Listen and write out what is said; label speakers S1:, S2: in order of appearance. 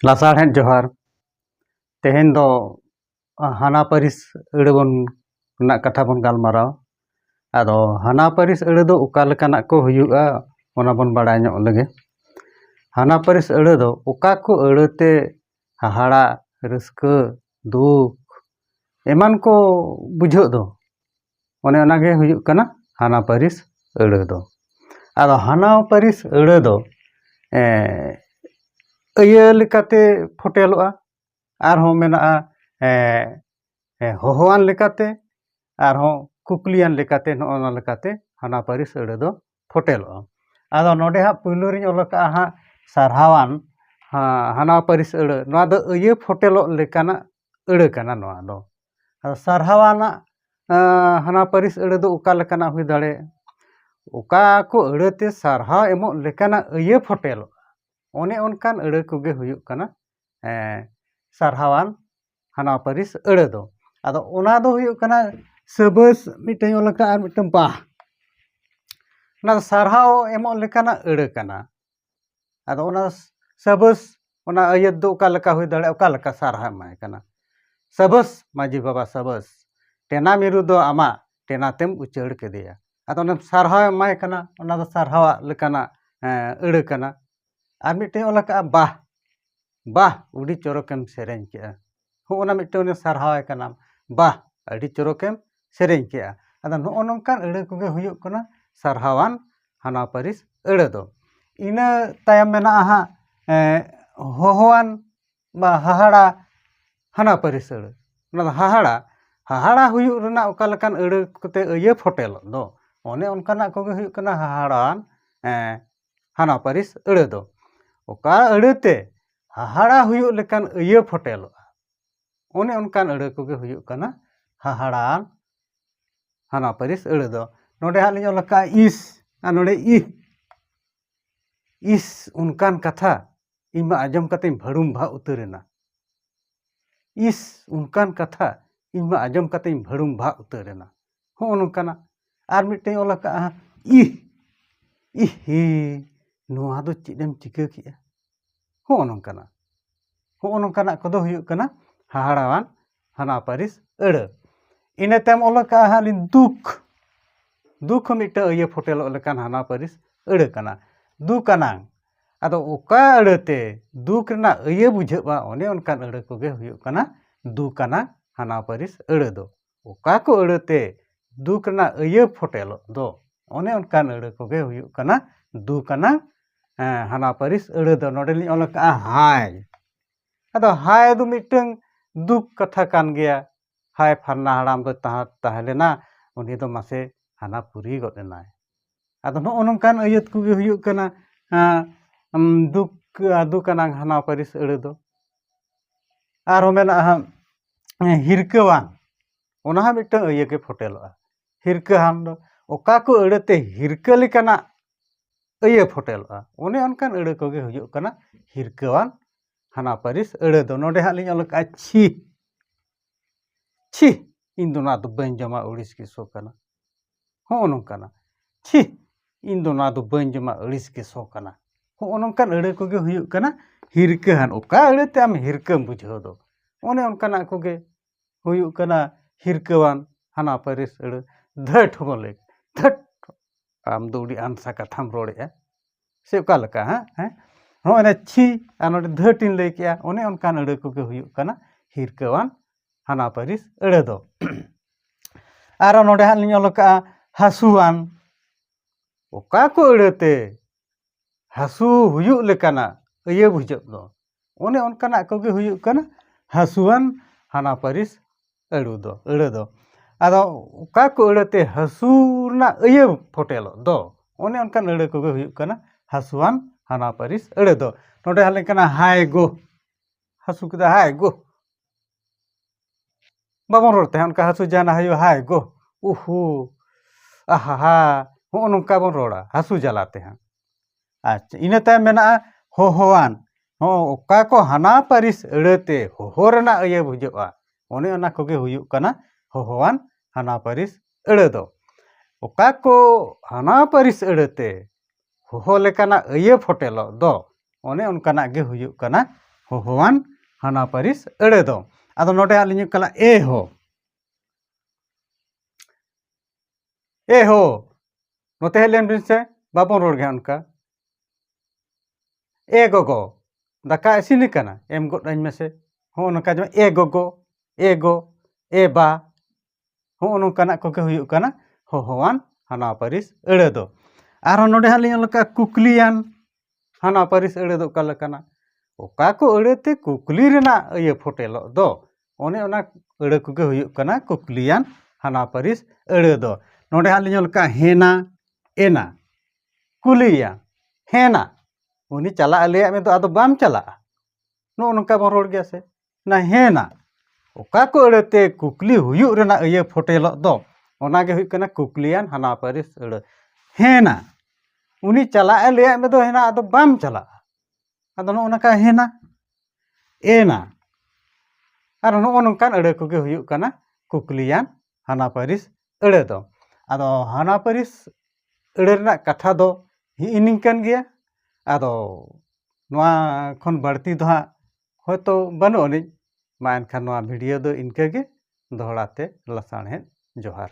S1: ᱞᱟᱥᱟᱲᱦᱮᱫ ᱡᱚᱦᱟᱨ ᱛᱮᱦᱮᱧ ᱫᱚ ᱦᱟᱱᱟ ᱯᱟᱹᱨᱤᱥ ᱟᱹᱲᱟᱹ ᱵᱚᱱ ᱨᱮᱱᱟᱜ ᱠᱟᱛᱷᱟ ᱵᱚᱱ ᱜᱟᱞᱢᱟᱨᱟᱣᱟ ᱟᱫᱚ ᱦᱟᱱᱟ ᱯᱟᱹᱨᱤᱥ ᱟᱹᱲᱟᱹ ᱫᱚ ᱚᱠᱟ ᱞᱮᱠᱟᱱᱟᱜ ᱠᱚ ᱦᱩᱭᱩᱜᱼᱟ ᱚᱱᱟ ᱵᱚᱱ ᱵᱟᱲᱟᱭ ᱧᱚᱜ ᱞᱮᱜᱮ ᱦᱟᱱᱟ ᱯᱟᱹᱨᱤᱥ ᱟᱹᱲᱟᱹ ᱫᱚ ᱚᱠᱟ ᱠᱚ ᱟᱹᱲᱟᱹ ᱛᱮ ᱦᱟᱦᱟᱲᱟᱜ ᱨᱟᱹᱥᱠᱟᱹ ᱫᱩᱠ ᱮᱢᱟᱱ ᱠᱚ ᱵᱩᱡᱷᱟᱹᱜ ᱫᱚ ᱚᱱᱮ ᱚᱱᱟ ᱜᱮ ᱦᱩᱭᱩᱜ ᱠᱟᱱᱟ ᱦᱟᱱᱟ ᱯᱟᱹᱨᱤᱥ ᱟᱹᱲᱟᱹ ᱫᱚ ᱟᱫᱚ ᱦᱟᱱᱟ ᱯᱟᱹᱨᱤᱥ ᱟᱹᱲᱟᱹ ᱫᱚ ᱟᱹᱭᱟᱹ ᱞᱮᱠᱟᱛᱮ ᱯᱷᱳᱴᱮᱞᱚᱜᱼᱟ ᱟᱨᱦᱚᱸ ᱢᱮᱱᱟᱜᱼᱟ ᱦᱚᱦᱚᱣᱟᱱ ᱞᱮᱠᱟᱛᱮ ᱟᱨᱦᱚᱸ ᱠᱩᱠᱞᱤᱭᱟᱱ ᱞᱮᱠᱟᱛᱮ ᱱᱚᱜᱼᱚ ᱱᱟ ᱞᱮᱠᱟᱛᱮ ᱦᱟᱱᱟ ᱯᱟᱹᱨᱤᱥ ᱟᱹᱲᱟᱹ ᱫᱚ ᱯᱷᱚᱴᱮᱞᱚᱜᱼᱟ ᱟᱫᱚ ᱱᱚᱰᱮ ᱦᱟᱸᱜ ᱯᱳᱭᱞᱳ ᱨᱤᱧ ᱚᱞ ᱠᱟᱜᱼᱟ ᱦᱟᱸᱜ ᱥᱟᱨᱦᱟᱣᱟᱱ ᱦᱟᱱᱟ ᱯᱟᱹᱨᱤᱥ ᱟᱹᱲᱟᱹ ᱱᱚᱣᱟ ᱫᱚ ᱟᱹᱭᱟᱹ ᱯᱷᱚᱴᱮᱞᱚᱜ ᱞᱮᱠᱟᱱᱟᱜ ᱟᱹᱲᱟᱹ ᱠᱟᱱᱟ ᱱᱚᱣᱟ ᱫᱚ ᱟᱫᱚ ᱥᱟᱨᱦᱟᱣᱟᱱᱟᱜ ᱦᱟᱱᱟ ᱯᱟᱹᱨᱤᱥ ᱟᱹᱲᱟᱹ ᱫᱚ ᱚᱠᱟ ᱞᱮᱠᱟᱱᱟᱜ ᱦᱩᱭ ᱫᱟᱲᱮᱭᱟᱜᱼᱟ ᱚᱠᱟ ᱠᱚ ᱟᱹᱲᱟᱹᱛᱮ ᱥᱟᱨᱦᱟᱣ ᱮᱢᱚᱜ ᱞᱮᱠᱟᱱᱟᱜ ᱟᱹᱭᱟᱹ ᱯᱷᱚᱴᱮᱞᱚᱜᱼᱟ ᱚᱱᱮ ᱚᱱᱠᱟᱱ ᱟᱹᱲᱟᱹ ᱠᱚᱜᱮ ᱦᱩᱭᱩᱜ ᱠᱟᱱᱟ ᱥᱟᱨᱦᱟᱣᱟᱱ ᱦᱟᱱᱟ ᱯᱟᱹᱨᱤᱥ ᱟᱹᱲᱟᱹ ᱫᱚ ᱟᱫᱚ ᱚᱱᱟ ᱫᱚ ᱦᱩᱭᱩᱜ ᱠᱟᱱᱟ ᱥᱟᱹᱵᱟᱹᱥ ᱢᱤᱫᱴᱟᱹᱝ ᱚᱞ ᱟᱠᱟᱫᱼᱟ ᱟᱨ ᱢᱤᱫᱴᱟᱹᱝ ᱵᱟᱦ ᱚᱱᱟ ᱥᱟᱨᱦᱟᱣ ᱮᱢᱚᱜ ᱞᱮᱠᱟᱱᱟᱜ ᱟᱹᱲᱟᱹ ᱠᱟᱱᱟ ᱟᱫᱚ ᱚᱱᱟ ᱥᱟᱹᱵᱟᱹᱥ ᱚᱱᱟ ᱟᱹᱭᱟᱹᱛ ᱫᱚ ᱚᱠᱟ ᱞᱮᱠᱟ ᱦᱩᱭ ᱫᱟᱲᱮᱭᱟᱜᱼᱟ ᱚᱠᱟ ᱞᱮᱠᱟ ᱥᱟᱨᱦᱟᱣ ᱮᱢ ᱮᱢᱟᱭ ᱠᱟᱱᱟ ᱥᱟᱹᱵᱟᱹᱥ ᱢᱟᱹᱡᱷᱤ ᱵᱟᱵᱟ ᱥᱟᱹᱵᱟᱹᱥ ᱴᱮᱱᱟ ᱢᱤᱨᱩ ᱫᱚ ᱟᱢᱟᱜ ᱴᱮᱱᱟ ᱛᱮᱢ ᱩᱪᱟᱹᱲ ᱠᱮᱫᱮᱭᱟ ᱟᱫᱚ ᱚᱱᱮᱢ ᱥᱟᱨᱦᱟᱣ ᱮᱢ ᱮᱢᱟᱭ ᱠᱟᱱᱟ ᱚᱱᱟ ᱫᱚ ᱥᱟᱨᱦᱟᱣᱟᱜ ᱞᱮᱠᱟᱱᱟᱜ ᱟᱹᱲᱟᱹ ᱠᱟᱱᱟ ᱟᱨ ᱢᱤᱫᱴᱮᱱ ᱚᱞ ᱟᱠᱟᱫᱼᱟ ᱵᱟᱦ ᱵᱟᱦ ᱟᱹᱰᱤ ᱪᱚᱨᱚᱠᱮᱢ ᱥᱮᱨᱮᱧ ᱠᱮᱫᱼᱟ ᱦᱚᱸᱜᱼᱚ ᱱᱟ ᱢᱤᱫᱴᱮᱱ ᱩᱱᱤ ᱥᱟᱨᱦᱟᱣ ᱮ ᱠᱟᱱᱟᱢ ᱵᱟᱦ ᱟᱹᱰᱤ ᱪᱚᱨᱚᱠᱮᱢ ᱥᱮᱨᱮᱧ ᱠᱮᱫᱼᱟ ᱟᱫᱚ ᱱᱚᱜᱼᱚ ᱱᱚᱝᱠᱟᱱ ᱟᱹᱲᱟᱹ ᱠᱚᱜᱮ ᱦᱩᱭᱩᱜ ᱠᱟᱱᱟ ᱥᱟᱨᱦᱟᱣᱟᱱ ᱦᱟᱱᱟ ᱯᱟᱹᱨᱤᱥ ᱟᱹᱲᱟᱹ ᱫᱚ ᱤᱱᱟᱹ ᱛᱟᱭᱚᱢ ᱢᱮᱱᱟᱜᱼᱟ ᱦᱟᱸᱜ ᱦᱚᱦᱚᱣᱟᱱ ᱵᱟ ᱦᱟᱦᱟᱲᱟ ᱦᱟᱱᱟ ᱯᱟᱹᱨᱤᱥ ᱟᱹᱲᱟᱹ ᱚᱱᱟ ᱫᱚ ᱦᱟᱦᱟᱲᱟ ᱦᱟᱦᱟᱲᱟ ᱦᱩᱭᱩᱜ ᱨᱮᱱᱟᱜ ᱚᱠᱟ ᱞᱮᱠᱟᱱ ᱟᱹᱲᱟᱹ ᱠᱚᱛᱮ ᱟᱹᱭᱟᱹ ᱯᱷᱚᱴᱮᱞᱚᱜ ᱫᱚ ᱚᱱᱮ ᱚᱱᱠᱟᱱᱟᱜ ᱠᱚᱜᱮ ᱦᱩᱭᱩᱜ ᱠᱟᱱᱟ ᱦᱟᱦᱟᱲᱟᱣᱟᱱ ᱦᱟᱱᱟ ᱯᱟᱹᱨᱤᱥ ᱟᱹᱲᱟᱹ ᱫᱚ ᱚᱠᱟ ᱟᱹᱲᱟᱹ ᱛᱮ ᱦᱟᱦᱟᱲᱟ ᱦᱩᱭᱩᱜ ᱞᱮᱠᱟᱱ ᱟᱹᱭᱟᱹ ᱯᱷᱚᱴᱮᱞᱚᱜᱼᱟ ᱚᱱᱮ ᱚᱱᱠᱟᱱ ᱟᱹᱲᱟᱹ ᱠᱚᱜᱮ ᱦᱩᱭᱩᱜ ᱠᱟᱱᱟ ᱦᱟᱦᱟᱲᱟ ᱦᱟᱱᱟ ᱯᱟᱹᱨᱤᱥ ᱟᱹᱲᱟᱹ ᱫᱚ ᱱᱚᱰᱮ ᱦᱟᱸᱜ ᱞᱤᱧ ᱚᱞ ᱟᱠᱟᱫᱼᱟ ᱤᱥ ᱟᱨ ᱱᱚᱰᱮ ᱤᱦ ᱤᱥ ᱚᱱᱠᱟᱱ ᱠᱟᱛᱷᱟ ᱤᱧ ᱢᱟ ᱟᱸᱡᱚᱢ ᱠᱟᱛᱮᱧ ᱵᱷᱟᱹᱲᱩᱢ ᱵᱷᱟᱜ ᱩᱛᱟᱹᱨ ᱮᱱᱟ ᱤᱥ ᱚᱱᱠᱟᱱ ᱠᱟᱛᱷᱟ ᱤᱧ ᱢᱟ ᱟᱸᱡᱚᱢ ᱠᱟᱛᱮᱧ ᱵᱷᱟᱹᱲᱩᱢ ᱵᱷᱟᱜ ᱩᱛᱟᱹᱨ ᱮᱱᱟ ᱦᱚᱸᱜᱼᱚ ᱱᱚᱝᱠᱟᱱᱟᱜ ᱟᱨ ᱢᱤᱫᱴᱮᱱ ᱚᱞ ᱟᱠᱟᱫᱼᱟ ᱤᱦ ᱤᱦᱤ ᱱᱚᱣᱟ ᱫᱚ ᱪᱮᱫ ᱮᱢ ᱪᱤᱠᱟᱹ ᱠᱮᱜᱼᱟ ᱦᱚᱸᱜᱼᱚ ᱱᱚᱝᱠᱟᱱᱟᱜ ᱦᱚᱸᱜᱼᱚ ᱱᱚᱝᱠᱟᱱᱟᱜ ᱠᱚᱫᱚ ᱦᱩᱭᱩᱜ ᱠᱟᱱᱟ ᱦᱟᱦᱟᱲᱟᱣᱟᱱ ᱦᱟᱱᱟ ᱯᱟᱹᱨᱤᱥ ᱟᱹᱲᱟᱹ ᱤᱱᱟᱹ ᱛᱟᱭᱚᱢ ᱚᱞ ᱟᱠᱟᱫᱼᱟ ᱦᱟᱸᱜ ᱞᱤᱧ ᱫᱩᱠ ᱫᱩᱠ ᱦᱚᱸ ᱢᱤᱫᱴᱟᱹᱝ ᱤᱭᱟᱹ ᱯᱷᱚᱴᱮᱞᱚᱜ ᱞᱮᱠᱟᱱ ᱦᱟᱱᱟ ᱯᱟᱹᱨᱤᱥ ᱟᱹᱲᱟᱹ ᱠᱟᱱᱟ ᱫᱩᱠ ᱟᱱᱟᱝ ᱟᱫᱚ ᱚᱠᱟ ᱟᱹᱲᱟᱹᱛᱮ ᱫᱩᱠ ᱨᱮᱱᱟᱜ ᱟᱹᱭᱟᱹ ᱵᱩᱡᱷᱟᱹᱜᱼᱟ ᱚᱱᱮ ᱚᱱᱠᱟᱱ ᱟᱹᱲᱟᱹ ᱠᱚᱜᱮ ᱦᱩᱭᱩᱜ ᱠᱟᱱᱟ ᱫᱩᱠ ᱟᱱᱟᱜ ᱦᱟᱱᱟ ᱯᱟᱹᱨᱤᱥ ᱟᱹᱲᱟᱹ ᱫᱚ ᱚᱠᱟ ᱠᱚ ᱟᱹᱲᱟᱹ ᱛᱮ ᱫᱩᱠ ᱨᱮᱱᱟᱜ ᱟᱹᱭᱟᱹ ᱯᱷᱚᱴᱮᱞᱚᱜ ᱫᱚ ᱚᱱᱮ ᱚᱱᱠᱟᱱ ᱟᱹᱲᱟᱹ ᱠᱚᱜᱮ ᱦᱩᱭᱩᱜ ᱠᱟᱱᱟ ᱫᱩᱠ ᱟᱱᱟᱜ ᱦᱟᱱᱟ ᱯᱟᱹᱨᱤᱥ ᱟᱹᱲᱟᱹ ᱫᱚ ᱱᱚᱰᱮ ᱞᱤᱧ ᱚᱞ ᱠᱟᱜᱼᱟ ᱦᱟᱭ ᱟᱫᱚ ᱦᱟᱭ ᱫᱚ ᱢᱤᱫᱴᱟᱹᱝ ᱫᱩᱠ ᱠᱟᱛᱷᱟ ᱠᱟᱱ ᱜᱮᱭᱟ ᱦᱟᱭ ᱯᱷᱟᱞᱱᱟ ᱦᱟᱲᱟᱢ ᱫᱚᱭ ᱛᱟᱦᱮᱸ ᱞᱮᱱᱟ ᱩᱱᱤ ᱫᱚ ᱢᱟᱥᱮ ᱦᱟᱱᱟ ᱯᱩᱨᱤ ᱜᱚᱫ ᱮᱱᱟᱭ ᱟᱫᱚ ᱱᱚᱜᱼᱚ ᱱᱚᱝᱠᱟᱱ ᱟᱹᱭᱟᱹᱛ ᱠᱚᱜᱮ ᱦᱩᱭᱩᱜ ᱠᱟᱱᱟ ᱫᱩᱠ ᱫᱩᱠ ᱟᱱᱟᱝ ᱦᱟᱱᱟ ᱯᱟᱹᱨᱤᱥ ᱟᱹᱲᱟᱹ ᱫᱚ ᱟᱨᱦᱚᱸ ᱢᱮᱱᱟᱜᱼᱟ ᱦᱟᱸᱜ ᱦᱤᱨᱠᱟᱹᱣᱟᱱ ᱚᱱᱟ ᱦᱚᱸ ᱢᱤᱫᱴᱟᱹᱱ ᱟᱹᱭᱟᱹ ᱜᱮ ᱯᱷᱚᱴᱮᱞᱚᱜᱼᱟ ᱦᱤᱨᱠᱟᱹᱣᱟᱱ ᱫᱚ ᱚᱠᱟ ᱠᱚ ᱟᱹᱲᱟᱹ ᱛᱮ ᱦᱤᱨᱠᱟᱹ ᱞᱮᱠᱟᱱᱟᱜ ᱟᱹᱭᱟᱹ ᱯᱷᱚᱴᱮᱞᱚᱜᱼᱟ ᱚᱱᱮ ᱚᱱᱠᱟᱱ ᱟᱹᱲᱟᱹ ᱠᱚᱜᱮ ᱦᱩᱭᱩᱜ ᱠᱟᱱᱟ ᱦᱤᱨᱠᱟᱹᱣᱟᱱ ᱦᱟᱱᱟ ᱯᱟᱹᱨᱤᱥ ᱟᱹᱲᱟᱹ ᱫᱚ ᱱᱚᱰᱮ ᱦᱟᱸᱜ ᱞᱤᱧ ᱚᱞ ᱠᱟᱜᱼᱟ ᱪᱷᱤ ᱪᱷᱤ ᱤᱧ ᱫᱚ ᱱᱚᱣᱟ ᱫᱚ ᱵᱟᱹᱧ ᱡᱚᱢᱟ ᱟᱹᱲᱤᱥ ᱜᱮ ᱥᱚ ᱠᱟᱱᱟ ᱦᱚᱸᱜᱼᱚ ᱱᱚᱝᱠᱟᱱᱟᱜ ᱪᱷᱤ ᱤᱧ ᱫᱚ ᱱᱚᱣᱟ ᱫᱚ ᱵᱟᱹᱧ ᱡᱚᱢᱟ ᱟᱹᱲᱤᱥ ᱜᱮ ᱥᱚ ᱠᱟᱱᱟ ᱦᱚᱸᱜᱼᱚ ᱱᱚᱝᱠᱟᱱ ᱟᱹᱲᱟᱹ ᱠᱚᱜᱮ ᱦᱩᱭᱩᱜ ᱠᱟᱱᱟ ᱦᱤᱨᱠᱟᱹᱣᱟᱱ ᱚᱠᱟ ᱟᱹᱲᱟᱹᱛᱮ ᱟᱢ ᱦᱤᱨᱠᱟᱹᱢ ᱵᱩᱡᱷᱟᱹᱣ ᱫᱚ ᱚᱱᱮ ᱚᱱᱠᱟᱱᱟᱜ ᱠᱚᱜᱮ ᱦᱩᱭᱩᱜ ᱠᱟᱱᱟ ᱦᱤᱨᱠᱟᱹᱣᱟᱱ ᱦᱟᱱᱟ ᱯᱟᱹᱨᱤᱥ ᱟᱹᱲᱟᱹ ᱫᱷᱟᱹᱴ ᱦᱚᱸᱵᱚᱱ ᱞᱟᱹᱭ ᱫᱷᱟᱹᱴ ᱟᱢ ᱫᱚ ᱟᱹᱰᱤ ᱟᱱᱥᱟ ᱠᱟᱛᱷᱟᱢ ᱨᱚᱲᱮᱜᱼᱟ ᱥᱮ ᱚᱠᱟ ᱞᱮᱠᱟ ᱦᱮᱸ ᱱᱚᱜᱼᱚᱭ ᱱᱟ ᱪᱷᱤ ᱟᱨ ᱱᱚᱰᱮ ᱫᱷᱟᱹᱴ ᱤᱧ ᱞᱟᱹᱭ ᱠᱮᱜᱼᱟ ᱚᱱᱮ ᱚᱱᱠᱟᱱ ᱟᱹᱲᱟᱹ ᱠᱚᱜᱮ ᱦᱩᱭᱩᱜ ᱠᱟᱱᱟ ᱦᱤᱨᱠᱟᱹᱣᱟᱱ ᱦᱟᱱᱟ ᱯᱟᱹᱨᱤᱥ ᱟᱹᱲᱟᱹ ᱫᱚ ᱟᱨᱚ ᱱᱚᱰᱮ ᱦᱟᱸᱜ ᱞᱤᱧ ᱚᱞ ᱠᱟᱜᱼᱟ ᱦᱟᱹᱥᱩᱣᱟᱱ ᱚᱠᱟ ᱠᱚ ᱟᱹᱲᱟᱹᱛᱮ ᱦᱟᱹᱥᱩ ᱦᱩᱭᱩᱜ ᱞᱮᱠᱟᱱᱟᱜ ᱟᱹᱭᱟᱹ ᱵᱩᱡᱷᱟᱹᱜ ᱫᱚ ᱚᱱᱮ ᱚᱱᱠᱟᱱᱟᱜ ᱠᱚᱜᱮ ᱦᱩᱭᱩᱜ ᱠᱟᱱᱟ ᱦᱟᱹᱥᱩᱣᱟᱱ ᱦᱟᱱᱟ ᱯᱟᱹᱨᱤᱥ ᱟᱹᱲᱩ ᱫᱚ ᱟᱹᱲᱟᱹ ᱫᱚ ᱟᱫᱚ ᱚᱠᱟ ᱠᱚ ᱟᱹᱲᱟᱹ ᱛᱮ ᱦᱟᱹᱥᱩ ᱨᱮᱱᱟᱜ ᱤᱭᱟᱹ ᱯᱷᱳᱴᱮᱞᱚᱜ ᱫᱚ ᱚᱱᱮ ᱚᱱᱠᱟᱱ ᱟᱹᱲᱟᱹ ᱠᱚᱜᱮ ᱦᱩᱭᱩᱜ ᱠᱟᱱᱟ ᱦᱟᱹᱥᱩᱣᱟᱱ ᱦᱟᱱᱟ ᱯᱟᱹᱨᱤᱥ ᱟᱹᱲᱟᱹ ᱫᱚ ᱱᱚᱰᱮ ᱦᱮᱡ ᱞᱮᱱᱠᱷᱟᱱ ᱦᱟᱭ ᱜᱳ ᱦᱟᱹᱥᱩ ᱠᱮᱫᱟᱭ ᱦᱟᱭ ᱜᱳ ᱵᱟᱵᱚᱱ ᱨᱚᱲ ᱛᱟᱦᱮᱸᱫ ᱚᱱᱠᱟ ᱦᱟᱹᱥᱩ ᱡᱟᱦᱟᱱᱟᱜ ᱦᱩᱭᱩᱜᱼᱟ ᱦᱟᱭ ᱜᱳ ᱩᱦᱩ ᱟᱦᱟ ᱦᱟ ᱦᱚᱸᱜᱼᱚ ᱱᱚᱝᱠᱟ ᱵᱚᱱ ᱨᱚᱲᱟ ᱦᱟᱹᱥᱩ ᱡᱟᱞᱟ ᱛᱮ ᱦᱟᱸᱜ ᱟᱪᱪᱷᱟ ᱤᱱᱟᱹ ᱛᱟᱭᱚᱢ ᱢᱮᱱᱟᱜᱼᱟ ᱦᱚᱦᱚᱣᱟᱱ ᱦᱚᱸ ᱚᱠᱟ ᱠᱚ ᱦᱟᱱᱟ ᱯᱟᱹᱨᱤᱥ ᱟᱹᱲᱟᱹ ᱛᱮ ᱦᱚᱦᱚ ᱨᱮᱱᱟᱜ ᱤᱭᱟᱹ ᱵᱩᱡᱷᱟᱹᱜᱼᱟ ᱚᱱᱮ ᱚᱱᱟ ᱠᱚᱜᱮ ᱦᱩᱭᱩᱜ ᱠᱟᱱᱟ ᱦᱚᱦᱚᱣᱟᱱ ᱦᱟᱱᱟ ᱯᱟᱹᱨᱤᱥ ᱟᱹᱲᱟᱹ ᱫᱚ ᱚᱠᱟ ᱠᱚ ᱦᱟᱱᱟ ᱯᱟᱹᱨᱤᱥ ᱟᱹᱲᱟᱹ ᱛᱮ ᱦᱚᱦᱚ ᱞᱮᱠᱟᱱᱟᱜ ᱟᱹᱭᱟᱹ ᱯᱷᱚᱴᱮᱞᱚᱜ ᱫᱚ ᱚᱱᱮ ᱚᱱᱠᱟᱱᱟᱜ ᱜᱮ ᱦᱩᱭᱩᱜ ᱠᱟᱱᱟ ᱦᱚᱦᱚᱣᱟᱱ ᱦᱟᱱᱟ ᱯᱟᱹᱨᱤᱥ ᱟᱹᱲᱟᱹ ᱫᱚ ᱟᱫᱚ ᱱᱚᱰᱮ ᱟᱹᱞᱤᱧ ᱦᱩᱭᱩᱜ ᱠᱟᱱᱟ ᱮ ᱦᱳ ᱮ ᱦᱳ ᱱᱚᱛᱮ ᱦᱮᱡ ᱞᱮᱱ ᱵᱤᱱ ᱥᱮ ᱵᱟᱵᱚᱱ ᱨᱚᱲ ᱜᱮᱭᱟ ᱚᱱᱠᱟ ᱮ ᱜᱚᱜᱚ ᱫᱟᱠᱟ ᱤᱥᱤᱱ ᱟᱠᱟᱱᱟ ᱮᱢ ᱜᱚᱫ ᱟᱹᱧ ᱢᱮᱥᱮ ᱦᱚᱸᱜᱼᱚ ᱱᱚᱝᱠᱟ ᱡᱮᱢᱚᱱ ᱮ ᱜᱚᱜᱚ ᱮ ᱜᱚ ᱮ ᱵᱟ ᱦᱚᱸᱜᱼᱚ ᱱᱚᱝᱠᱟᱱᱟᱜ ᱠᱚᱜᱮ ᱦᱩᱭᱩᱜ ᱠᱟᱱᱟ ᱦᱚᱦᱚᱣᱟᱱ ᱦᱟᱱᱟ ᱯᱟᱹᱨᱤᱥ ᱟᱹᱲᱟᱹ ᱫᱚ ᱟᱨᱦᱚᱸ ᱱᱚᱰᱮ ᱦᱟᱸᱜ ᱞᱤᱧ ᱚᱞ ᱠᱟᱜᱼᱟ ᱠᱩᱠᱞᱤᱭᱟᱱ ᱦᱟᱱᱟ ᱯᱟᱹᱨᱤᱥ ᱟᱹᱲᱟᱹ ᱫᱚ ᱚᱠᱟ ᱞᱮᱠᱟᱱᱟ ᱚᱠᱟ ᱠᱚ ᱟᱹᱲᱟᱹ ᱛᱮ ᱠᱩᱠᱞᱤ ᱨᱮᱱᱟᱜ ᱤᱭᱟᱹ ᱯᱷᱚᱴᱮᱞᱚᱜ ᱫᱚ ᱚᱱᱮ ᱚᱱᱟ ᱟᱹᱲᱟᱹ ᱠᱚᱜᱮ ᱦᱩᱭᱩᱜ ᱠᱟᱱᱟ ᱠᱩᱠᱞᱤᱭᱟᱱ ᱦᱟᱱᱟ ᱯᱟᱹᱨᱤᱥ ᱟᱹᱲᱟᱹ ᱫᱚ ᱱᱚᱰᱮ ᱦᱟᱸᱜ ᱞᱤᱧ ᱚᱞ ᱠᱟᱜᱼᱟ ᱦᱮᱱᱟ ᱮᱱᱟ ᱠᱩᱞᱤᱭᱟ ᱦᱮᱱᱟ ᱩᱱᱤ ᱪᱟᱞᱟᱜ ᱟᱞᱮᱭᱟᱜ ᱢᱮ ᱫᱚ ᱟᱫᱚ ᱵᱟᱢ ᱪᱟᱞᱟᱜᱼᱟ ᱱᱚᱜᱼᱚ ᱱᱚᱝᱠᱟ ᱵᱚᱱ ᱨᱚᱲ ᱜᱮᱭᱟ ᱥᱮ ᱱᱟᱦᱮᱱᱟ ᱚᱠᱟ ᱠᱚ ᱟᱹᱲᱟᱹᱛᱮ ᱠᱩᱠᱞᱤ ᱦᱩᱭᱩᱜ ᱨᱮᱱᱟᱜ ᱤᱭᱟᱹ ᱯᱷᱳᱴᱮᱞᱚᱜ ᱫᱚ ᱚᱱᱟ ᱜᱮ ᱦᱩᱭᱩᱜ ᱠᱟᱱᱟ ᱠᱩᱠᱞᱤᱭᱟᱱ ᱦᱟᱱᱟ ᱯᱟᱹᱨᱤᱥ ᱟᱹᱲᱟᱹ ᱦᱮᱱᱟ ᱩᱱᱤ ᱪᱟᱞᱟᱜ ᱮ ᱞᱟᱹᱭᱟᱫ ᱢᱮᱫᱚ ᱦᱮᱱᱟ ᱟᱫᱚ ᱵᱟᱢ ᱪᱟᱞᱟᱜᱼᱟ ᱟᱫᱚ ᱱᱚᱜᱼᱚ ᱱᱚᱝᱠᱟ ᱦᱮᱱᱟ ᱮᱱᱟ ᱟᱨ ᱱᱚᱜᱼᱚ ᱱᱚᱝᱠᱟᱱ ᱟᱹᱲᱟᱹ ᱠᱚᱜᱮ ᱦᱩᱭᱩᱜ ᱠᱟᱱᱟ ᱠᱩᱠᱞᱤᱭᱟᱱ ᱦᱟᱱᱟ ᱯᱟᱹᱨᱤᱥ ᱟᱹᱲᱟᱹ ᱫᱚ ᱟᱫᱚ ᱦᱟᱱᱟ ᱯᱟᱹᱨᱤᱥ ᱟᱹᱲᱟᱹ ᱨᱮᱱᱟᱜ ᱠᱟᱛᱷᱟ ᱫᱚ ᱦᱤᱜᱼᱤ ᱱᱤᱝᱠᱟᱹᱱ ᱜᱮᱭᱟ ᱟᱫᱚ ᱱᱚᱣᱟ ᱠᱷᱚᱱ ᱵᱟᱹᱲᱛᱤ ᱫᱚ ᱦᱟᱸᱜ ᱦᱳᱭᱛᱳ ᱵᱟᱹᱱᱩᱜ ᱟᱹᱱᱤᱡ ᱢᱟ ᱮᱱᱠᱷᱟᱱ ᱱᱚᱣᱟ ᱵᱷᱤᱰᱤᱭᱳ ᱫᱚ ᱤᱱᱠᱟᱹ ᱜᱮ ᱫᱚᱦᱲᱟ ᱛᱮ ᱞᱟᱥᱟᱬᱦᱮᱫ ᱡᱚᱦᱟᱨ